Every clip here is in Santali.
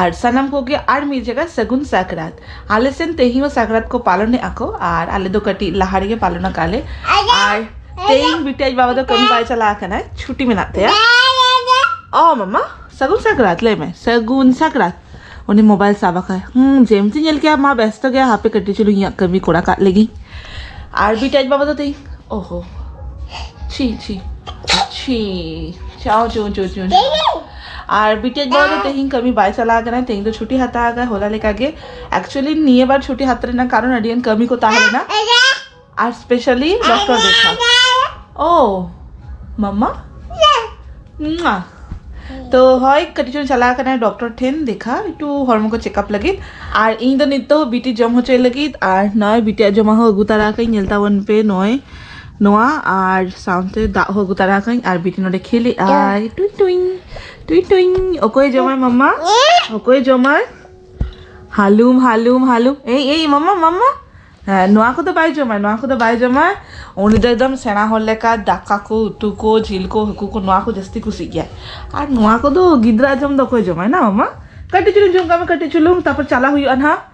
ᱟᱨ ᱥᱟᱱᱟᱢ ᱠᱚᱜᱮ ᱟᱨ ᱢᱤᱫ ᱡᱟᱭᱜᱟ ᱥᱟᱹᱜᱩᱱ ᱥᱟᱠᱨᱟᱛ ᱟᱞᱮ ᱥᱮᱱ ᱛᱮᱦᱮᱧ ᱦᱚᱸ ᱥᱟᱠᱨᱟᱛ ᱠᱚ ᱯᱟᱞᱚᱱᱮᱫᱼᱟ ᱠᱚ ᱟᱨ ᱟᱞᱮ ᱫᱚ ᱠᱟᱹᱴᱤᱡ ᱞᱟᱦᱟ ᱨᱮᱜᱮ ᱯᱟᱞᱚᱱ ᱟᱠᱟᱫ ᱞᱮ ᱟᱨ ᱛᱮᱦᱮᱧ ᱵᱤᱴᱤ ᱟᱡ ᱵᱟᱵᱟ ᱫᱚ ᱠᱟᱹᱢᱤ ᱵᱟᱭ ᱪᱟᱞᱟᱣ ᱟᱠᱟᱱᱟ ᱪᱷᱩᱴᱤ ᱢᱮᱱᱟᱜ ᱛᱟᱭᱟ ᱚ ᱢᱟᱢᱟ ᱥᱟᱹᱜᱩᱱ ᱥᱟᱠᱨᱟᱛ ᱞᱟᱹᱭ ᱢᱮ ᱥᱟᱹᱜᱩᱱ ᱥᱟᱠᱨᱟᱛ ᱩᱱᱤ ᱢᱳᱵᱟᱭᱤᱞ ᱥᱟᱵ ᱟᱠᱟᱫ ᱦᱩᱸ ᱡᱮᱢᱛᱤ ᱧᱮᱞ ᱠᱮᱫᱟ ᱢᱟ ᱵᱮᱥᱛᱚ ᱜᱮᱭᱟ ᱦᱟᱯᱮ ᱠᱟᱹᱴᱤᱡ ᱪᱩᱞᱩᱝ ᱤᱧᱟᱹᱜ ᱠᱟᱹᱢᱤ ᱠᱚᱨᱟ ᱠᱟᱜ ᱞᱮᱜᱤᱧ ᱟᱨ ᱵᱤᱴᱤ ᱟᱡ ᱵᱟᱵᱟ ᱫᱚ ᱛᱮᱦᱮᱧ ᱚᱦᱚ ᱪᱷᱤ ᱪᱷᱤ ᱪᱷᱤ ᱪᱟᱣ ᱪᱩ ᱪᱩ ᱪᱩ ᱟᱨ ᱵᱤᱴᱮᱡ ᱵᱟᱵᱟ ᱫᱚ ᱛᱮᱦᱮᱧ ᱠᱟᱹᱢᱤ ᱵᱟᱭ ᱪᱟᱞᱟᱣ ᱠᱟᱱᱟ ᱛᱮᱦᱮᱧ ᱫᱚ ᱪᱷᱩᱴᱤ ᱦᱟᱛᱟᱣ ᱟᱠᱟᱫᱟ ᱦᱚᱞᱟ ᱞᱮᱠᱟ ᱜᱮ ᱮᱠᱪᱩᱭᱮᱞᱤ ᱱᱤᱭᱟᱹ ᱵᱟᱨ ᱪᱷᱩᱴᱤ ᱦᱟᱛᱟᱣ ᱨᱮᱱᱟᱜ ᱠᱟᱨᱚᱱ ᱟᱹᱰᱤ ᱜᱟᱱ ᱠᱟᱹᱢᱤ ᱠᱚ ᱛᱟᱦᱮᱸ ᱞᱮᱱᱟ ᱟᱨ ᱥᱯᱮᱥᱟᱞᱤ ᱰᱚᱠᱴᱚᱨ ᱫᱮᱠᱷᱟ ᱳ ᱢᱟᱢᱟ ᱢᱟ ᱛᱚ ᱦᱳᱭ ᱠᱟᱹᱴᱤᱡ ᱪᱩᱞᱩᱝ ᱪᱟᱞᱟᱣ ᱠᱟᱱᱟ ᱰᱚᱠᱴᱚᱨ ᱴᱷᱮᱱ ᱫᱮᱠᱷᱟ ᱮᱠᱴᱩ ᱦᱚᱲᱢᱚ ᱠᱚ ᱪᱮᱠᱟᱯ ᱞᱟᱹᱜᱤᱫ ᱟᱨ ᱤᱧ ᱫᱚ ᱱᱤᱛᱚᱜ ᱵᱤᱴᱤ ᱡᱚᱢ ᱦᱚᱪᱚᱭ ᱞᱟᱹᱜᱤᱫ ᱟᱨ ᱱᱚᱜᱼᱚᱭ ᱵᱤᱴᱤᱭᱟᱜ ᱡᱚᱢᱟᱜ ᱦᱚᱸ ᱟᱹᱜᱩ ᱛᱟᱨᱟ ᱟᱠᱟᱫᱟᱹᱧ ᱧᱮᱞ ᱛᱟᱵᱚᱱ ᱯᱮ ᱱᱚᱜᱼᱚᱭ ᱱᱚᱣᱟ ᱟᱨ ᱥᱟᱶᱛᱮ ᱫᱟᱜ ᱦᱚᱸ ᱟᱹᱜᱩ ᱛᱟᱨᱟ ᱟᱠᱟᱫᱟᱹᱧ ᱟᱨ ᱵᱤᱴᱤ ᱱᱚᱰᱮ ᱠᱷᱮᱞᱮᱫ ᱟᱭ ᱴᱩᱭ ᱴᱩᱭ ᱴᱩᱭ ᱴᱩᱭ ᱚᱠᱚᱭ ᱡᱚᱢᱟᱭ ᱢᱟᱢᱟ ᱚᱠᱚᱭ ᱡᱚᱢᱟᱭ ᱦᱟᱞᱩᱢ ᱦᱟᱞᱩᱢ ᱦᱟᱞᱩᱢ ᱮᱭ ᱮᱭ ᱢᱟᱢᱟ ᱢᱟᱢᱟ ᱦᱮᱸ ᱱᱚᱣᱟ ᱠᱚᱫᱚ ᱵᱟᱭ ᱡᱚᱢᱟᱭ ᱱᱚᱣᱟ ᱠᱚᱫᱚ ᱵᱟᱭ ᱡᱚᱢᱟᱭ ᱩᱱᱤ ᱫᱚ ᱮᱠᱫᱚᱢ ᱥᱮᱬᱟ ᱦᱚᱲ ᱞᱮᱠᱟ ᱫᱟᱠᱟ ᱠᱚ ᱩᱛᱩ ᱠᱚ ᱡᱤᱞ ᱠᱚ ᱦᱟᱹᱠᱩ ᱠᱚ ᱱᱚᱣᱟ ᱠᱚ ᱡᱟᱹᱥᱛᱤ ᱠᱩᱥᱤᱜ ᱜᱮᱭᱟ ᱟᱨ ᱱᱚᱣᱟ ᱠᱚᱫᱚ ᱜᱤᱫᱽᱨᱟᱹ ᱡᱚᱢ ᱫᱚ ᱚᱠᱚᱭ ᱡᱚᱢᱟᱭ ᱱᱟ ᱢᱟᱢᱟ ᱠᱟᱹᱴᱤᱡ ᱪᱩᱞᱩᱝ ᱡᱚᱢ ᱠᱟᱜ ᱢᱮ ᱠᱟᱹᱴᱤᱡ ᱪᱩᱞᱩᱝ ᱛᱟᱨᱯᱚᱨ ᱪᱟᱞᱟᱜ ᱦᱩᱭᱩᱜᱼᱟ ᱱᱟᱦᱟᱜ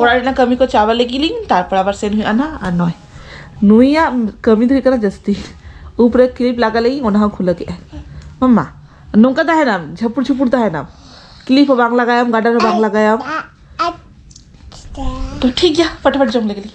ᱚᱲᱟᱜ ᱨᱮᱱᱟᱜ ᱠᱟᱹᱢᱤ ᱠᱚ ᱪᱟᱵᱟ ᱞᱟᱹᱜᱤᱫ ᱞᱤᱧ ᱛᱟᱨᱯᱚᱨ ᱟᱵᱟᱨ ᱥᱮᱱ ᱦᱩᱭᱩᱜᱼᱟ ᱱᱟᱜ ᱟᱨ ᱱᱚᱭ ᱱᱩᱭᱟᱜ ᱠᱟᱹᱢᱤ ᱫᱚ ᱦᱩᱭᱩᱜ ᱠᱟᱱᱟ ᱡᱟᱹᱥᱛᱤ ᱩᱵ ᱨᱮ ᱠᱞᱤᱯ ᱞᱟᱜᱟ ᱞᱟᱹᱜᱤᱫ ᱚᱱᱟ ᱦᱚᱸ ᱠᱷᱩᱞᱟᱹ ᱠᱮᱜᱼᱟᱭ ᱢᱟᱢᱟ ᱱᱚᱝᱠᱟ ᱛᱟᱦᱮᱱᱟᱢ ᱡᱷᱟᱹᱯᱩᱲ ᱡᱷᱩᱯᱩᱲ ᱛᱟᱦᱮᱱᱟᱢ ᱠᱞᱤᱯ ᱦᱚᱸ ᱵᱟᱝ ᱞᱟᱜᱟᱭᱟᱢ ᱜᱟᱰᱟᱨ ᱦᱚᱸ ᱵᱟᱝ ᱞᱟᱜᱟᱭᱟᱢ ᱛᱚ ᱴᱷᱤᱠ ᱜᱮᱭᱟ ᱯᱷᱟᱴᱟᱯᱷᱟᱴ ᱡᱚᱢ ᱞᱮᱜᱮ ᱞᱤᱧ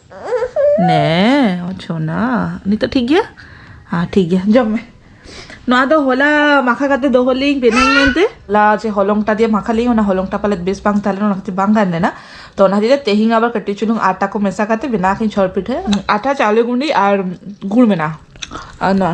ᱱᱮ ᱪᱷᱚᱱᱟ ᱱᱤᱛᱚᱜ ᱴᱷᱤᱠ ᱜᱮᱭᱟ ᱦᱮᱸ ᱴᱷᱤᱠ ᱜᱮᱭᱟ ᱡᱚᱢ ᱢᱮ ᱱᱚᱣᱟ ᱫᱚ ᱦᱚᱞᱟ ᱢᱟᱠᱷᱟ ᱠᱟᱛᱮ ᱫᱚᱦᱚ ᱞᱤᱧ ᱵᱮᱱᱟᱣ ᱢᱮᱱᱛᱮ ᱦᱚᱞᱟ ᱡᱮ ᱦᱚᱞᱚᱝᱴᱟ ᱫᱤᱭᱮ ᱢᱟᱠᱷᱟ ᱞᱤᱧ ᱚᱱᱟ ᱦᱚᱞᱚᱝᱴᱟ ᱯᱟᱞᱮᱫ ᱵᱮᱥ ᱵᱟᱝ ᱛᱟᱦᱮᱸ ᱞᱮᱱᱟ ᱚᱱᱟ ᱠᱷᱟᱹᱛᱤᱨ ᱵᱟᱝ ᱜᱟᱱ ᱞᱮᱱᱟ ᱛᱚ ᱚᱱᱟ ᱠᱷᱟᱹᱛᱤᱨ ᱛᱮᱦᱮᱧ ᱟᱵᱟᱨ ᱠᱟᱹᱴᱤᱡ ᱪᱩᱞᱩᱝ ᱟᱴᱟ ᱠᱚ ᱢᱮᱥᱟ ᱠᱟᱛᱮ ᱵᱮᱱᱟᱣ ᱠᱤᱱ ᱪᱷᱚᱨ ᱯᱤᱴᱷᱟᱹ ᱟᱴᱟ ᱪᱟᱣᱞᱮ ᱜᱩᱸᱰᱤ ᱟᱨ ᱜᱩᱲ ᱢᱮᱱᱟᱜᱼᱟ ᱟᱨ ᱱᱚᱣᱟ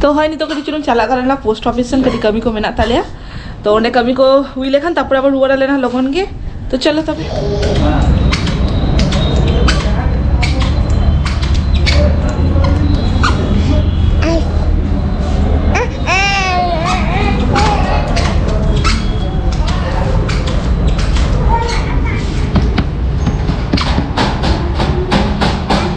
ᱛᱚ ᱦᱳᱭ ᱱᱤᱛᱚᱜ ᱠᱟᱹᱴᱤᱡ ᱪᱩᱞᱩᱝ ᱪᱟᱞᱟᱜ ᱠᱟᱱᱟ ᱞᱮᱱᱟ ᱯᱳᱥᱴ ᱚᱯᱷᱤᱥ ᱥᱮᱱ ᱠᱟᱹᱴᱤᱡ ᱠᱟᱹᱢᱤ ᱠᱚ ᱢᱮᱱᱟᱜ ᱛᱟᱞᱮᱭᱟ ᱛᱚ ᱚᱸᱰᱮ ᱠᱟᱹᱢᱤ ᱠᱚ ᱦᱩᱭ ᱞᱮᱠᱷᱟᱱ ᱛᱟᱨᱯᱚᱨᱮ ᱟᱵᱟᱨ ᱨᱩᱣᱟᱹᱲ ᱟᱞᱮ ᱱᱟᱦᱟᱜ ᱞᱚᱜᱚᱱ ᱜᱮ ᱛᱚ ᱪᱚᱞᱚ ᱛᱚᱵᱮ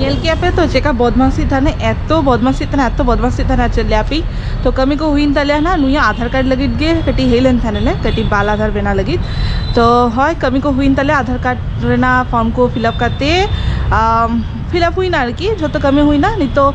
ᱧᱮᱞ ᱠᱮᱜᱼᱟ ᱯᱮ ᱛᱚ ᱪᱮᱠᱟ ᱵᱚᱫᱢᱟᱥᱤ ᱛᱟᱦᱮᱱᱟ ᱮᱛᱚ ᱵᱚᱫᱢᱟᱥᱤ ᱛᱟᱦᱮᱱᱟ ᱮᱛᱚ ᱵᱚᱫᱢᱟᱥᱤ ᱛᱟᱦᱮᱱᱟ ᱪᱮᱫ ᱞᱟᱹᱭᱟ ᱯᱮ ᱛᱚ ᱠᱟᱹᱢᱤ ᱠᱚ ᱦᱩᱭᱮᱱ ᱛᱟᱞᱮᱭᱟ ᱱᱟ ᱱᱩᱭᱟᱜ ᱟᱫᱷᱟᱨ ᱠᱟᱨᱰ ᱞᱟᱹᱜᱤᱫ ᱜᱮ ᱠᱟᱹᱴᱤᱡ ᱦᱮᱡ ᱞᱮᱱ ᱛᱟᱦᱮᱱᱟᱞᱮ ᱠᱟᱹᱴᱤᱡ ᱵᱟᱞ ᱟᱫᱷᱟᱨ ᱵᱮᱱᱟᱣ ᱞᱟᱹᱜᱤᱫ ᱛᱚ ᱦᱳᱭ ᱠᱟᱹᱢᱤ ᱠᱚ ᱦᱩᱭᱮᱱ ᱛᱟᱞᱮᱭᱟ ᱟᱫᱷᱟᱨ ᱠᱟᱨᱰ ᱨᱮᱱᱟᱜ ᱯᱷᱨᱚᱢ ᱠᱚ ᱯᱷᱤᱞᱟᱯ ᱠᱟᱛᱮ ᱯᱷᱤᱞᱟᱯ ᱦᱩᱭᱱᱟ ᱟᱨᱠᱤ ᱡᱷᱚᱛᱚ ᱠᱟᱹᱢᱤ ᱦᱩᱭᱱᱟ ᱱᱤᱛᱚᱜ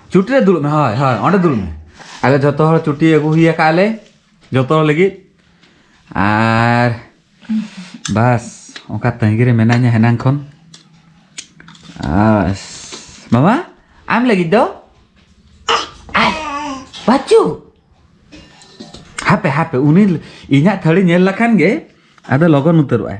ᱪᱩᱴᱤ ᱨᱮ ᱫᱩᱲᱩᱵ ᱢᱮ ᱦᱳᱭ ᱦᱳᱭ ᱚᱸᱰᱮ ᱫᱩᱲᱩᱵ ᱢᱮ ᱟᱫᱚ ᱡᱚᱛᱚ ᱦᱚᱲ ᱪᱩᱴᱤ ᱟᱹᱜᱩ ᱦᱩᱭ ᱟᱠᱟᱫ ᱞᱮ ᱡᱚᱛᱚ ᱦᱚᱲ ᱞᱟᱹᱜᱤᱫ ᱟᱨ ᱵᱟᱥ ᱚᱱᱠᱟ ᱛᱟᱺᱜᱤ ᱨᱮ ᱢᱮᱱᱟᱧᱟ ᱦᱮᱱᱟᱝ ᱠᱷᱚᱱ ᱵᱟᱥ ᱢᱟᱢᱟ ᱟᱢ ᱞᱟᱹᱜᱤᱫ ᱫᱚ ᱵᱟᱪᱩ ᱦᱟᱯᱮ ᱦᱟᱯᱮ ᱩᱱᱤ ᱤᱧᱟᱹᱜ ᱛᱷᱟᱹᱨᱤ ᱧᱮᱞ ᱞᱮᱠᱷᱟᱱ ᱜᱮ ᱟᱫᱚ ᱞᱚᱜᱚᱱ ᱩᱛᱟᱹᱨᱚᱜᱼᱟᱭ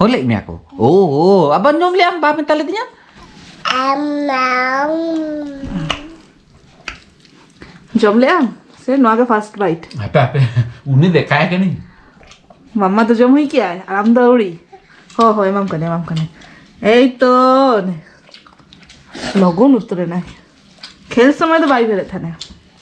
ᱦᱚᱞᱮᱜ ᱢᱮᱭᱟ ᱠᱚ ᱳ ᱳ ᱟᱵᱟᱨ ᱧᱚᱢ ᱞᱮᱭᱟᱢ ᱵᱟ ᱢᱮᱛᱟ ᱞᱮᱫᱤᱧᱟ ᱡᱚᱢ ᱞᱮᱭᱟᱢ ᱥᱮ ᱱᱚᱣᱟ ᱜᱮ ᱯᱷᱟᱨᱥᱴ ᱵᱟᱭᱤᱴ ᱦᱟᱯᱮ ᱦᱟᱯᱮ ᱩᱱᱤ ᱫᱮᱠᱟᱭ ᱠᱟᱹᱱᱟᱹᱧ ᱢᱟᱢᱟ ᱫᱚ ᱡᱚᱢ ᱦᱩᱭ ᱠᱮᱜᱼᱟᱭ ᱟᱨ ᱟᱢ ᱫᱚ ᱟᱹᱣᱲᱤ ᱦᱳ ᱦᱳ ᱮᱢᱟᱢ ᱠᱟᱹᱱᱟᱹᱧ ᱮᱢᱟᱢ ᱠᱟᱹᱱᱟᱹᱧ ᱮᱭ ᱛᱚ ᱞᱚᱜᱚᱱ ᱩᱛᱟᱹᱨᱮᱱᱟᱭ ᱠᱷᱮᱞ ᱥᱚᱢᱚᱭ ᱫᱚ ᱵᱟᱭ ᱵᱮᱨᱮᱫ ᱛᱟᱦᱮᱱᱟ